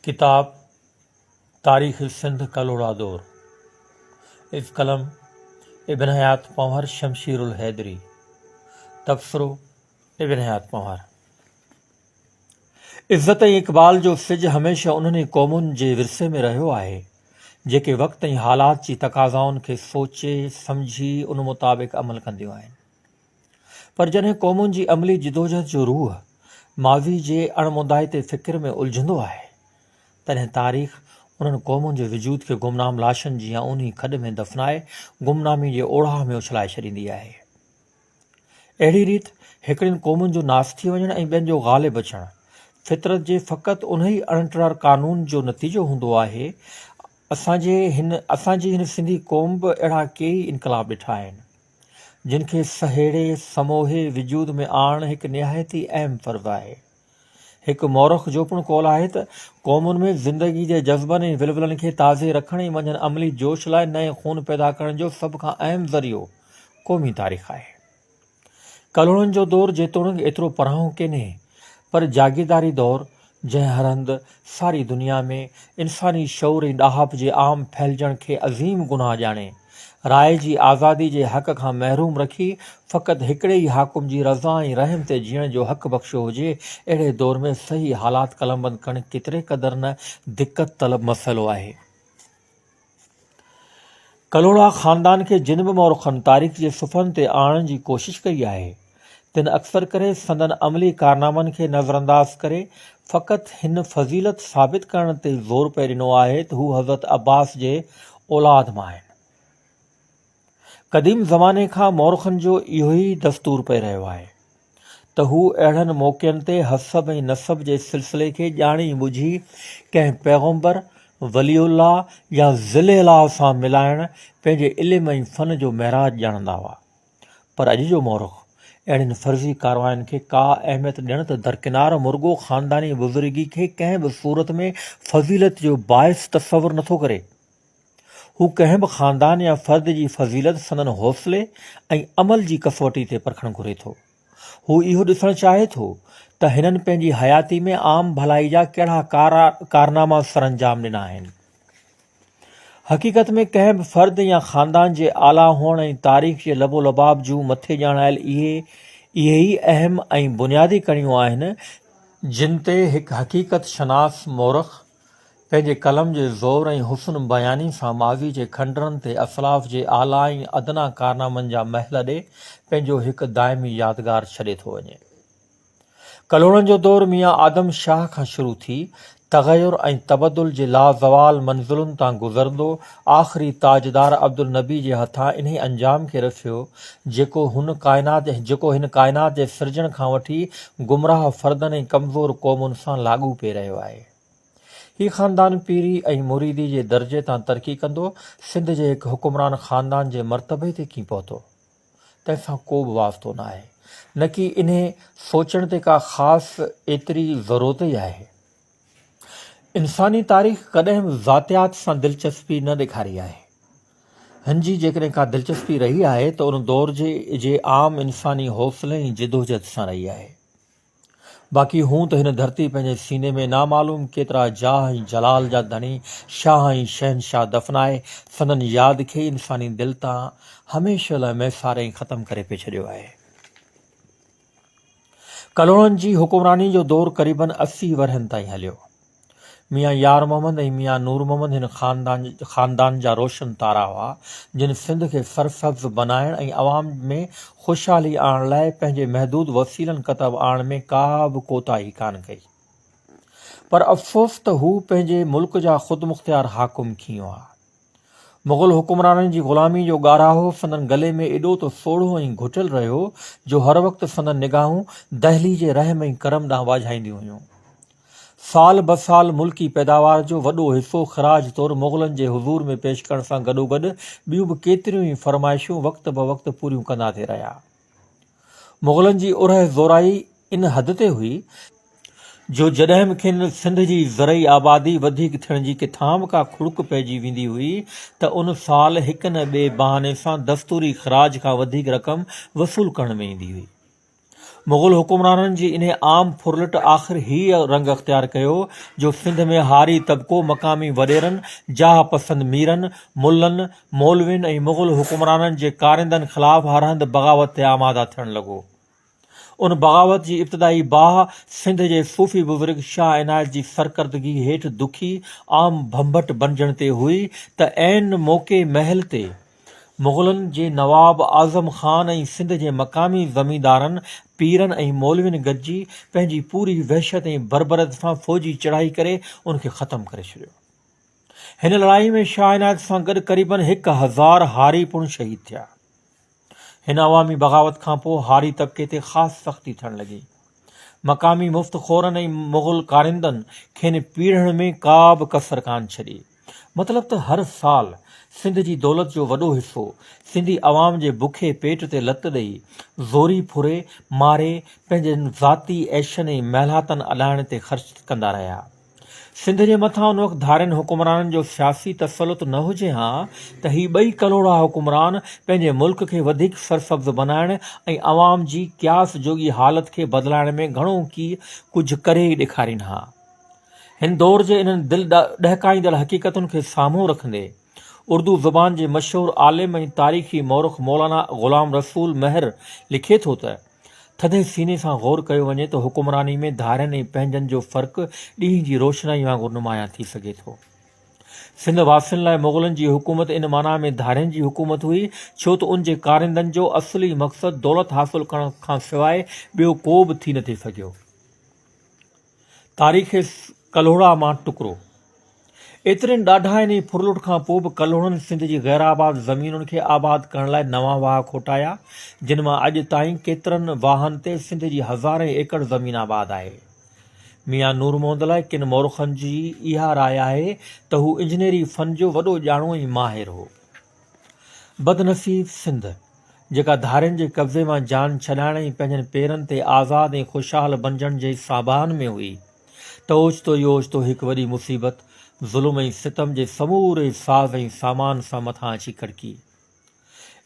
ڪتاب تاريخ سنڌ ڪلهوڙا دور اف قلم ابن حيات پنهور شمشير الحيدري تبصرو ابن حيات پنهور عزت ۽ اقبال جو سج هميشه انهن ئي قومن جي ورثي ۾ رهيو آهي جيڪي وقت ۽ حالات جي تقاضائن کي سوچي سمجهي ان مطابق عمل ڪنديون آهن پر جڏهن قومن جي عملي جدوجهد جو روح ماضي جي اڻموندائتي فڪر ۾ الجهندو آهي، تڏهن تاريخ انهن قومن جي وجود کي گمنام لاشن جيان اونهي کڏ ۾ دفنائي گمنامي جي اوڙاهه ۾ اڇلائي ڇڏيندي آهي. اهڙي ريت هڪڙين قومن جو ناس ٿي وڃڻ ۽ ٻين جو غالب اچڻ فطرت جي فقط انهي اڻٽرار قانون جو نتيجو هوندو آهي. اسان جي هن اسان جي هن سنڌي قوم به اهڙا ڪيئي انقلاب ڏٺا آهن. جن کي سهيڙي سموهي وجود ۾ آڻڻ هڪ نهايت ئي اهم فرض آهي. هڪ مورخ جو پڻ قول آهي ته، قومن ۾ زندگي جي جذبن ۽ ولولن کي تازي رکڻ ۽ منجهن عملي جوش لاء نئين خون پيدا ڪرڻ جو سڀ کان اهم ذريعو قومي تاريخ آهي. ڪلهوڙن جو دور جيتوڻيڪ ايترو پرانهون ڪينهي، پر جاگيرداري دور جنهن هر هنڌ ساري دنيا ۾ انساني شعور ۽ ڏاهپ جي عام ڦهلجڻ کي عظيم گناهه ڄاڻي، راء جي آزادي جي حق کان محروم رکي، فقط هڪڙي ئي حاڪم جي رضا ۽ رحم تي جيئڻ جو حق بخشيو هجي، اهڙي دور ۾ صحيح حالات قلمبند ڪرڻ ڪيتري قدر نه دقت طلب مسئلو آهي. ڪلهوڙا خاندان کي جن به مورخن تاريخ جي صفحن تي آڻڻ جي ڪوشش ڪئي آهي، تن اڪثر ڪري سندن عملي ڪارنامن کي نظرانداز ڪري فقط هن فضيلت ثابت ڪرڻ تي زور پئي ڏنو آهي ته هو حضرت عباس جي اولاد مان آهن. قديم زماني کان مورخن جو اهو ئي دستور پئي رهيو آهي ته هو اهڙن موقعن تي حسب ۽ نسب جي سلسلي کي ڄاڻي ٻجهي ڪنهن پيغمبر، ولي الله يا ذل اله سان ملائڻ پنهنجي علم ۽ فن جو معراج ڄاڻندا هئا. پر اڄ جو مورخ اهڙين فرضي ڪارواين کي ڪا اهميت ڏيڻ ته درڪنار مرڳو خانداني بزرگي کي ڪنهن به صورت ۾ فضيلت جو باعث تصور نٿو ڪري. هو ڪنهن به خاندان يا فرد جي فضيلت سندن حوصلي ۽ عمل جي ڪسوٽي تي پرکڻ گهري ٿو. هو اهو ڏسڻ چاهي ٿو ته هنن پنهنجي حياتي ۾ عام ڀلائي جا ڪهڙا ڪارناما سرانجام ڏنا آهن. حقيقت ۾ ڪنهن به فرد يا خاندان جي اعليٰ هئڻ ۽ تاريخ جي لب و لباب جون مٿي ڄاڻايل اهي اهي ئي اهم ۽ بنيادي ڪڻيون آهن، جن تي هڪ حقيقت شناس مورخ، پنهنجي قلم جي زور ۽ حسن بياني سان ماضي جي کنڊرن تي اسلاف جي اعليٰ ۽ ادنيٰ ڪارنامن جا محل ڏئي پنهنجو هڪ دائمي يادگار ڇڏي ٿو وڃي. ڪلهوڙن جو دور ميان آدم شاهه کان شروع ٿي تغير ۽ تبدل جي لازوال منزلن تان گذرندو آخري تاجدار عبدالنبي جي هٿان انهي انجام کي رسيو، جيڪو هن ڪائنات جيڪو هن ڪائنات جي سرجڻ کان وٺي گمراهه فردن ۽ ڪمزور قومن سان لاڳو پئي رهيو آهي. هي خاندان پيري ۽ مريدي جي درجي تان ترقي ڪندو سنڌ جي هڪ حڪمران خاندان جي مرتبي تي ڪين پهتو، تنهن سان ڪو به واسطو نه آهي، نڪي انهي سوچڻ تي ڪا خاص ايتري ضرورت ئي آهي. انساني تاريخ ڪڏهن به ذاتيات سان دلچسپي نه ڏيکاري آهي. هن جي جيڪڏهن ڪا دلچسپي رهي آهي ته ان دور جي جي عام انساني حوصلي ۽ جدوجھد سان رهي آهي. باقي هون ته هن ڌرتي پنهنجي سيني ۾ نامعلوم ڪيترا جاه ۽ جلال جا ڌڻي شاهه ۽ شهنشاهه دفنائي سندن ياد کي انساني دل تان هميشه لاء ميساري ۽ ختم ڪري پئي ڇڏيو آهي. ڪلهوڙن جي حڪمراني جو دور قريباً اسي ورهين تائين هليو. ميان يار محمد ۽ ميان نور محمد هن خاندان جا روشن تارا هئا، جن سنڌ کي سرسبز بنائڻ ۽ عوام ۾ خوشحالي آڻڻ لاء پنهنجي محدود وسيلن ڪتب آڻڻ ۾ ڪا به ڪوتاهي ڪانه ڪئي. پر افسوس ته هو پنهنجي ملڪ جا خودمختيار حاڪم کين هئا. مغل حڪمرانن جي غلامي جو ڳاراهو سندن گلي ۾ ايڏو ته سوڙهو ۽ گهٽيل رهيو جو هر وقت سندن نگاهون دهلي جي رحم ۽ ڪرم ڏانهن واجهائينديون هيون. سال به سال ملڪي پيداوار جو وڏو حصو خراج طور مغلن جي حضور ۾ پيش ڪرڻ سان گڏوگڏ ٻيون به ڪيتريون ئي فرمائشون وقت به وقت پوريون ڪندا ٿي رهيا. مغلن جي اورهه زورائي ان حد تي هئي جو جڏهن به کين سنڌ جي زرعي آبادي وڌيڪ ٿيڻ جي ڪٿان به ڪا کڙڪ پئجي ويندي هئي ته ان سال هڪ نه ٻئي بهاني سان دستوري خراج کان وڌيڪ رقم وصول ڪرڻ ۾ ايندي هئي. مغل حڪمرانن جي انهي عام ڦرلٽ آخر هيء رنگ اختيار ڪيو جو سنڌ ۾ هاري طبقو مقامي وڏيرن، جاهه پسند ميرن، ملن، مولوين ۽ مغل حڪمرانن جي ڪارندن خلاف هر هنڌ بغاوت تي آماده ٿيڻ لڳو. ان بغاوت جي ابتدائي باهه سنڌ جي صوفي بزرگ شاهه عنايت جي سرڪردگي هيٺ دکي عام ڀنڀٽ بنجڻ تي هئي ته عين موقعي مهل تي مغلن جي نواب اعظم خان ۽ سنڌ جي مقامي زميندارن، پيرن ۽ مولوين گڏجي پنهنجي پوري وحشت ۽ بربريت سان فوجي چڙهائي ڪري ان کي ختم ڪري ڇڏيو. هن لڙائي ۾ شاهه عنايت سان گڏ قريبن هڪ هزار هاري پڻ شهيد ٿيا. هن عوامي بغاوت کانپوء هاري طبقي تي خاص سختي ٿيڻ لڳي. مقامي مفت خورن ۽ مغل ڪارندن کين پيڙهڻ ۾ ڪا به ڪسر ڪانه ڇڏي. مطلب ته هر سال سنڌ جي دولت جو وڏو حصو سنڌي عوام جي بکي پيٽ تي لت ڏئي، زوري ڦري، ماري، پنهنجن ذاتي عيشن ۽ مهلاتن اڏائڻ تي خرچ ڪندا رهيا. سنڌ جي مٿان ان وقت ڌارين حڪمرانن جو سياسي تسلط نه هجي ها ته هي ٻئي ڪلهوڙا حڪمران پنهنجي ملڪ کي وڌيڪ سرسبز بنائڻ ۽ عوام جي قياس جوڳي حالت کي بدلائڻ ۾ گهڻو ڪي ڪجهه ڪري ئي ڏيکارين ها. هن دور جي انهن دل ڏهڪائيندڙ حقيقتن کي سامهون رکندي، اردو زبان جي مشهور عالم ۽ تاريخي مورخ مولانا غلام رسول مهر لکي ٿو ته، ٿڌي سيني سان غور ڪيو وڃي ته حڪمراني ۾ ڌارين ۽ پنهنجن جو فرق ڏينهن جي روشنائي وانگر نمايان ٿي سگهي ٿو. سنڌ واسين لاء مغلن جي حڪومت ان معنيٰ ۾ ڌارين جي حڪومت هئي ڇو ته ان جي ڪارندن جو اصلي مقصد دولت حاصل ڪرڻ کانسواء ٻيو ڪو به ٿي نٿي سگهيو. تاريخ ڪلهوڙا مان ٽڪرو، ايترين ڏاڍاين ۽ ڦرلٽ کان پوء به ڪلهوڙن سنڌ جي غيرآباد زمينن کي آباد ڪرڻ لاء نوان واهه کوٽايا، جن مان اڄ تائين ڪيترن واهن تي سنڌ جي هزارين ايڪڙ زمين آباد آهي. ميان نور محمد لاء ڪن مورخن جي اها راء آهي ته هو انجنيري فن جو وڏو ڄاڻو ۽ ماهر هو. بدنصيب سنڌ، جيڪا ڌارين جي قبضي مان جان ڇڏائڻ ۽ پنهنجن پيرن تي آزاد ۽ خوشحال بنجڻ جي ساڀاهن ۾ هئي ته اوچتو ئي اوچتو هڪ وڏي مصيبت ظلم ۽ ستم جي سموري ساز ۽ سامان سان مٿان اچي ڪڙڪي.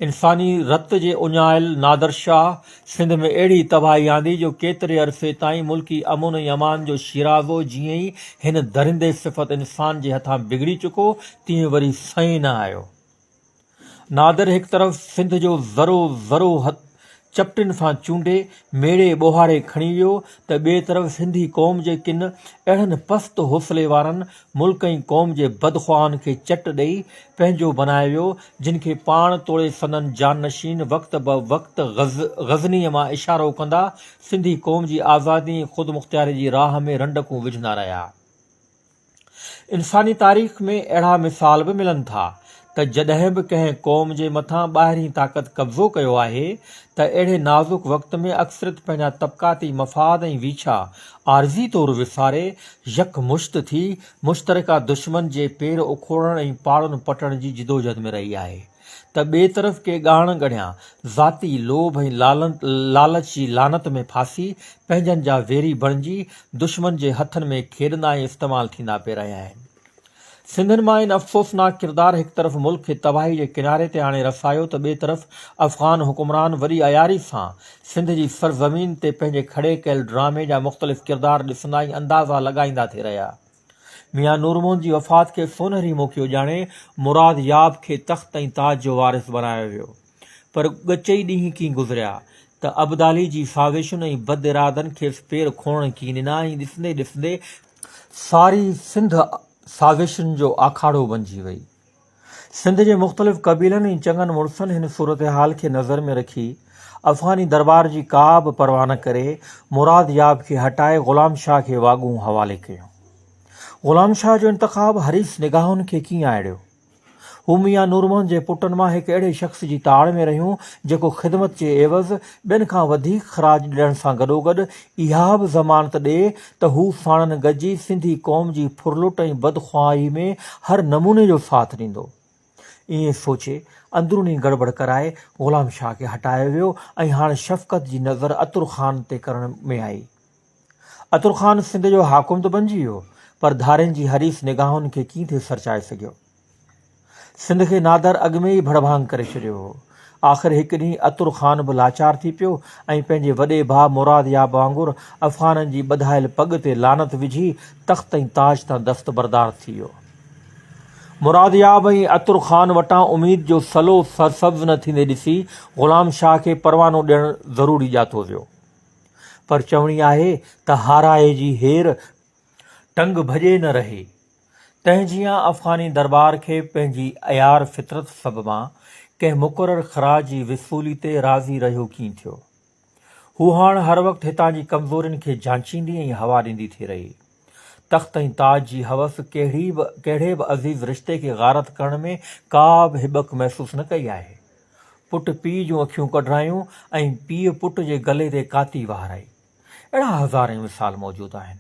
انساني رت جي اڃايل نادر شاهه سنڌ ۾ اهڙي تباهي آندي جو ڪيتري عرصي تائين ملڪي امن ۽ امان جو شيرازو جيئن ئي هن درندي صفت انسان جي هٿان بگڙي چڪو تيئن وري سنئين نه آيو. نادر هڪ طرف سنڌ جو ذرو ذرو چپٽن سان چونڊي ميڙي ٻوهاري کڻي ويو ته ٻئي طرف سنڌي قوم جي ڪن اهڙن پست حوصلي وارن ملڪ ۽ قوم جي بدخواهن کي چٽ ڏئي پنهنجو بنائي ويو، جن کي پاڻ توڙي سندن جانشين وقت به وقت غزنيء مان اشارو ڪندا، سنڌي قوم جي آزادي ۽ خودمختياري جي راهه ۾ رنڊڪون وجهندا رهيا. انساني تاريخ ۾ اهڙا مثال به ملن ٿا، ته جڏهن به ڪنهن قوم جي مٿان ٻاهرين طاقت قبضو ڪيو آهي ته اهڙي نازڪ وقت ۾ اڪثريت پنهنجا طبقاتي مفاد ۽ ويڇا عارضي طور وساري يڪمشت ٿي مشترڪه دشمن جي پير اکوڙڻ ۽ پاڙن پٽڻ جي جدوجهد ۾ رهي آهي ته ٻئي طرف ڪي ڳاڻ ڳڙهيا ذاتي لوڀ ۽ لالچ جي لعنت ۾ ڦاسي پنهنجن جا ويري بڻجي دشمن جي هٿن ۾ کيڏندا ۽ استعمال ٿيندا پئي رهيا آهن. سنڌين مان ان افسوسناڪ ڪردار هڪ طرف ملڪ کي تباهي جي ڪناري تي آڻي رسايو ته ٻئي طرف افغان حڪمران وڏي عياري سان سنڌ جي سرزمين تي پنهنجي کڙي ڪيل ڊرامي جا مختلف ڪردار ڏسندا ۽ اندازا لڳائيندا ٿي رهيا. ميان نورمحمد جي وفات کي سونهري موقعو ڄاڻي مراد ياب کي تخت ۽ تاج جو وارث بنايو ويو. پر ڳچئي ڏينهن ڪين گذريا ته ابدالي جي سازشن ۽ بد ارادن کيس پير کوڙڻ ڪين ڏنا ۽ ڏسندي ڏسندي ساري سنڌ سازشن جو آکاڙو بنجي وئي. سنڌ جي مختلف قبيلن ۽ چڱن مڙسن هن صورتحال کي نظر ۾ رکي افغاني درٻار جي ڪا به پرواهه نه ڪري مراد ياب کي هٽائي غلام شاهه کي واڳون حوالي ڪيون. غلام شاهه جو انتخاب حريص نگاهن کي ڪين آئڙيو. هو ميان نور محمد جي پٽن مان هڪ اهڙي شخص جي تاڙ ۾ رهيون جيڪو خدمت جي عيوض ٻين کان وڌيڪ خراج ڏيڻ سان گڏوگڏ اها به ضمانت ڏئي ته هو ساڻن گڏجي سنڌي قوم جي ڦرلٽ ۽ بدخواهي ۾ هر نموني جو ساٿ ڏيندو. ائين سوچي اندروني گڙٻڙ ڪرائي غلام شاهه کي هٽايو ويو ۽ هاڻ شفقت جي نظر عطر خان تي ڪرڻ ۾ آئي. عطر خان سنڌ جو حاڪم ته بنجي ويو پر ڌارين جي حريص نگاهن کي ڪيئن ٿي سرچائي سگهيو. سنڌ کي نادر اڳ ۾ ئي ڀڙڀانگ ڪري ڇڏيو هو. آخر هڪ ڏينهن عطر خان به لاچار ٿي پيو ۽ پنهنجي وڏي ڀاء مراد ياب وانگر افغانن جي ٻڌايل پڳ تي لعنت وجهي تخت ۽ تاج تان دستبردار ٿي ويو. مراد ياب ۽ عطر خان وٽان اميد جو سلو سرسبز نه ٿيندي ڏسي غلام شاهه کي پروانو ڏيڻ ضروري ڄاتو ويو. پر چوڻي آهي ته هارائي جي هير ٽنگ ڀڄي نه رهي. تنهن جيان افغاني درٻار کي پنهنجي عيار فطرت سببان ڪنهن مقرر خراج جي وصولي تي راضي رهيو ڪين ٿيو. هو هاڻ هر وقت هتان جي ڪمزورين کي جانچيندي ۽ هوا ڏيندي ٿي رهي. تخت ۽ تاج جي حوس ڪهڙي به ڪهڙي به عزيز رشتي کي غارت ڪرڻ ۾ ڪا به هٻڪ محسوس نه ڪئي آهي. پٽ پيء جون اکيون ڪڍرايون ۽ پيء پٽ جي گلي تي ڪاتي وهارائي. اهڙا هزارين مثال موجود آهن.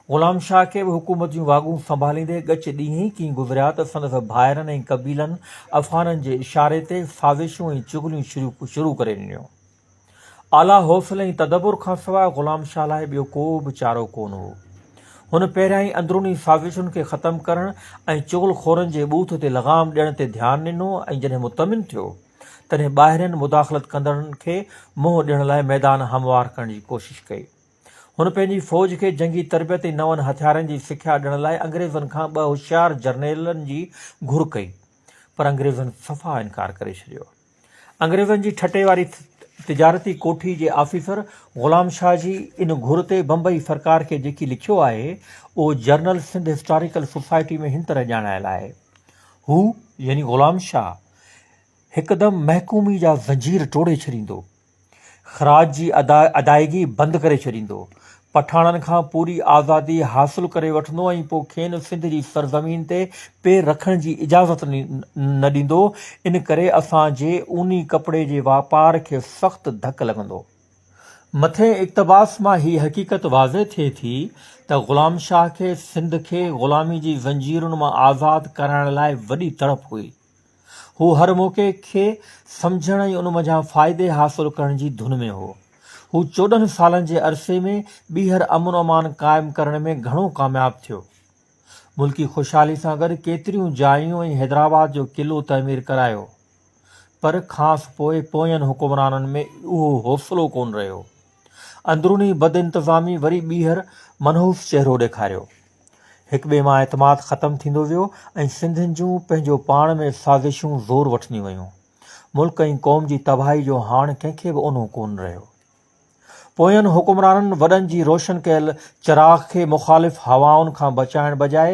غلام شاهه کي به حڪومت جون واڳون سنڀاليندي ڳچ ڏينهن ئي ڪين گذريا ته سندس ڀائرن ۽ قبيلن افغانن جي اشاري تي سازشون ۽ چغليون شروع ڪري ڏنيون. اعليٰ حوصلي ۽ تدبر کان سواء غلام شاهه لاء ٻيو ڪو به چارو ڪونه هو. هن پهريائين اندروني سازشن کي ختم ڪرڻ ۽ چغل خورن جي ٻوٿ تي لغام ڏيڻ تي ڌيان ڏنو ۽ جڏهن مطمئن ٿيو، تڏهن ٻاهرين مداخلت ڪندڙن کي منهن ڏيڻ لاء ميدان هموار ڪرڻ جي ڪوشش ڪئي. هن پنهنجي فوج کي جنگي تربيت ۽ نون هٿيارن جي سکيا ڏيڻ لاء انگريزن کان ٻه هوشيار جرنيلن جي گهر ڪئي، پر انگريزن صفا انڪار ڪري ڇڏيو. انگريزن جي ٺٽي واري تجارتي ڪوٺي جي آفيسر غلام شاهه جي ان گهر تي بمبئي سرڪار کي جيڪي لکيو آهي، اهو جرنل سنڌ هسٽاريڪل سوسائٽي ۾ هن طرح ڄاڻايل آهي، هو، يعني غلام شاهه، هڪدم محڪومي جا زنجير ٽوڙي ڇڏيندو، خراج جي ادائگي بند ڪري ڇڏيندو، پٺاڻن کان پوري آزادي حاصل ڪري وٺندو ۽ پوء کين سنڌ جي سرزمين تي پير رکڻ جي اجازت نه ڏيندو، ان ڪري اسان جي اوني ڪپڙي جي واپار کي سخت ڌڪ لڳندو. مٿين اقتباس مان هي حقيقت واضح ٿئي ٿي ته غلام شاهه کي سنڌ کي غلامي جي زنجيرن مان آزاد ڪرائڻ لاء وڏي تڙپ هئي. هو هر موقعي کي سمجهڻ ۽ ان منجهان فائدي حاصل ڪرڻ جي ڌن ۾ هو. هو چوڏهن سالن جي عرصي ۾ ٻيهر امن امان قائم ڪرڻ ۾ گهڻو ڪامياب ٿيو. ملڪي خوشحالي سان گڏ ڪيتريون جايون ۽ حيدرآباد جو قلعو تعمير ڪرايو. پر کانئس پوء پوين حڪمرانن ۾ اهو حوصلو ڪونه رهيو. اندروني بدانتظامي وري ٻيهر منحوس چهرو ڏيکاريو. هڪ ٻئي مان اعتماد ختم ٿيندو ويو ۽ سنڌين جون پنهنجو پاڻ ۾ سازشون زور وٺنديون ويون. ملڪ ۽ قوم جي تباهي جو هاڻ ڪنهن کي به اونهو ڪونه رهيو. پوئين حڪمرانن وڏن جي روشن ڪيل چراغ کي مخالف هوائن کان بچائڻ بجاء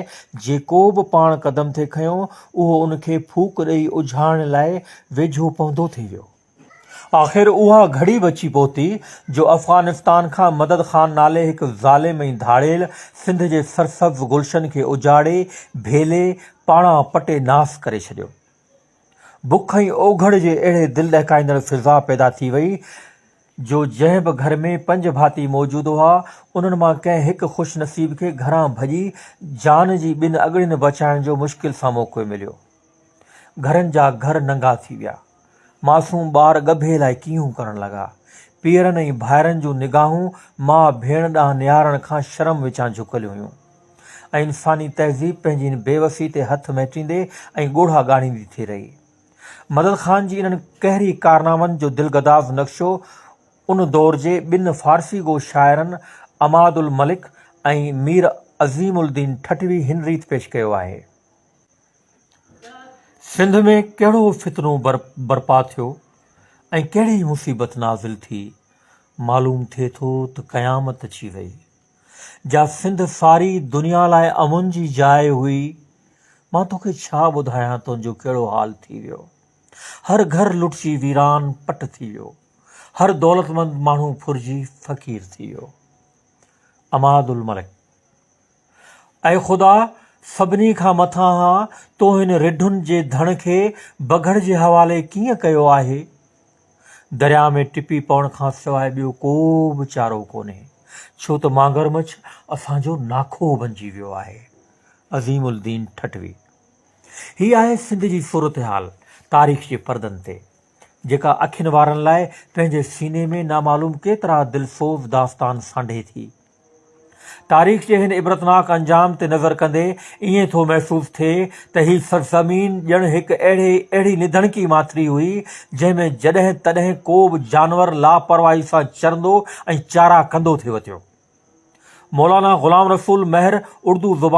جيڪو به پاڻ قدم ٿي کنيو اهو ان کي ڦوڪ ڏئي اجهائڻ لاء ويجهو پونڌو ٿي ويو. آخر اها گهڙي به اچي پهتي جو افغانستان کان مدد خان نالي هڪ ظالم ۽ ڌاڙيل سنڌ جي سرسبز گلشن کي اجاڙي، ڀيلي، پاڻان پٽي ناس ڪري ڇڏيو. بک ۽ اوگهڙ جي اهڙي دل ڏهڪائيندڙ فضا پيدا ٿي وئي جو جنهن به گهر ۾ پنج ڀاتي موجود هئا، انهن مان ڪنهن هڪ خوش نصيب کي گهران ڀڄي جان جي ٻن اڳڙين بچائڻ جو مشڪل سان موقعو مليو. گهرن جا گهر ننگا ٿي ويا. معصوم ٻار ڳڀي لاء ڪينهون ڪرڻ لڳا. پيئرن ۽ ڀائرن جون نگاهون ماء ڀيڻ ڏانهن نهارڻ کان شرم وچان جهڪيل هيون ۽ انساني تهذيب پنهنجي ان بيوسي تي هٿ مهٽيندي ۽ ڳوڙها ڳاڙيندي ٿي رهي. مدد خان جي انهن قهري ڪارنامن جو دلگداز نقشو ان دور جي ٻن فارسي گو شاعرن عماد الملڪ ۽ مير عظيم الدين ٺٽوي هن ريت پيش ڪيو آهي. سنڌ ۾ ڪهڙو فتنو برپا ٿيو ۽ ڪهڙي مصيبت نازل ٿي، معلوم ٿئي ٿو ته قيامت اچي ويئي. جا سنڌ ساري دنيا لاء امن جي جاء هئي، مان توکي ڇا ٻڌايان تنهنجو ڪهڙو حال ٿي ويو. هر گهر لٽجي ويران پٽ ٿي ويو، هر دولتمند ماڻهو ڦرجي فقير ٿي ويو. عماد الملڪ. اي خدا! سڀني کان مٿانهان تو هن رڍن جي ڌڻ کي بگهڙ جي حوالي ڪيئن ڪيو آهي؟ درياء ۾ ٽپي پوڻ کان سواء ٻيو ڪو به چارو ڪونهي، ڇو ته مانگر مڇ اسان جو ناکوهه بنجي ويو آهي. عظيم الدين ٺٽوي. هي آهي سنڌ جي صورتحال تاريخ جي پردن تي، جيڪا اکين وارن لاء پنهنجي سيني ۾ نامعلوم ڪيترا دلسوز داستان سانڍي ٿي. تاريخ جي هن عبرتناڪ انجام تي نظر ڪندي ائين ٿو محسوس ٿئي ته هي سرزمين ڄڻ هڪ اهڙي اهڙي نڌڻڪي ماٿري هئي، جنهن ۾ جڏهن تڏهن ڪو به جانور لاپرواهي سان چرندو ۽ چارا ڪندو ٿي وتيو. مولانا غلام رسول مهر اردو زبان.